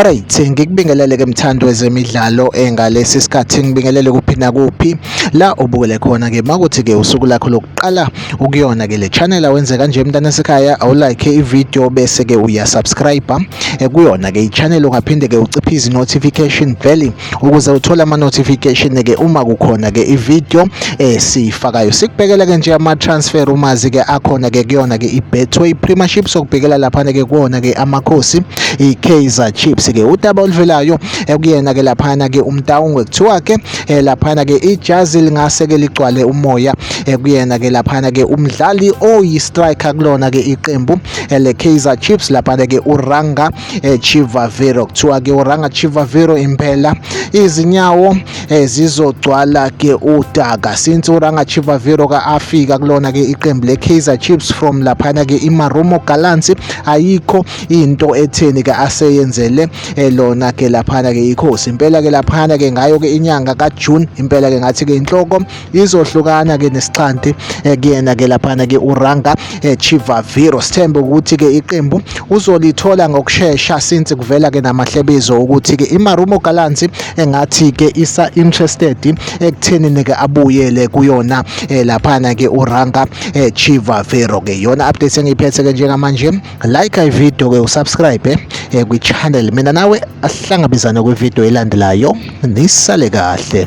Alright ngikubingelele ke mthandi wezemidlalo engalesi eh, sikhathi ngibingelele kuphi nakuphi la ubukele khona ke makuthi ke usuku lakho lokuqala ukuyona ke le channel awenze kanje mntana sekhaya awulike ivideo bese ke uyasubscribe eh, kuyona ke ichannel ungaphinde ke uciphe izi notification bell ukuze uthole ama notification ke uma kukhona ke i video esiyifakayo eh, sikubhekela ke nje ama transfer umazi ke akhona ke kuyona ke i Betway Premiership sokubhekela lapha ke kuona ke amakhosi i Kaizer Chiefs ke udaba oluvelayo ekuyena eh, ke lapha ke umtawungwe kuthiwa ke eh, lapha ke ijazi lingase ke ligcwale umoya ekuyena ke lapha ke umdlali oyi striker kulona ke iqembu le Kaizer Chiefs lapha ke uRanga eh, Chivaviro kuthiwa ke uranga Chivaviro impela izinyawo eh, zizogcwala ke udaka since uranga Chivaviro ka afika kulona ke iqembu le Kaizer Chiefs from laphana ke iMarumo Gallants ayikho into etheni ke aseyenzele eh, lona ke laphana ke ikhosi impela ke laphana ke ngayo ke inyanga ka June impela ke ngathi ke inhloko izohlukana ke nesixhanti eh, kuyena ke laphana ke uranga eh, chivaviro sithembe ukuthi ke iqembu uzolithola ngokushesha since kuvela ke namahlebezo ukuthi ke imarumo galansi engathi ke isa interested ekuthenini ke abuyele kuyona eh, laphana ke uranga chivaviro ke yona update engiyiphethe ke njengamanje like i video ke usubscribe kwi channel mina nawe ahlangabezane kwi video elandelayo nisale kahle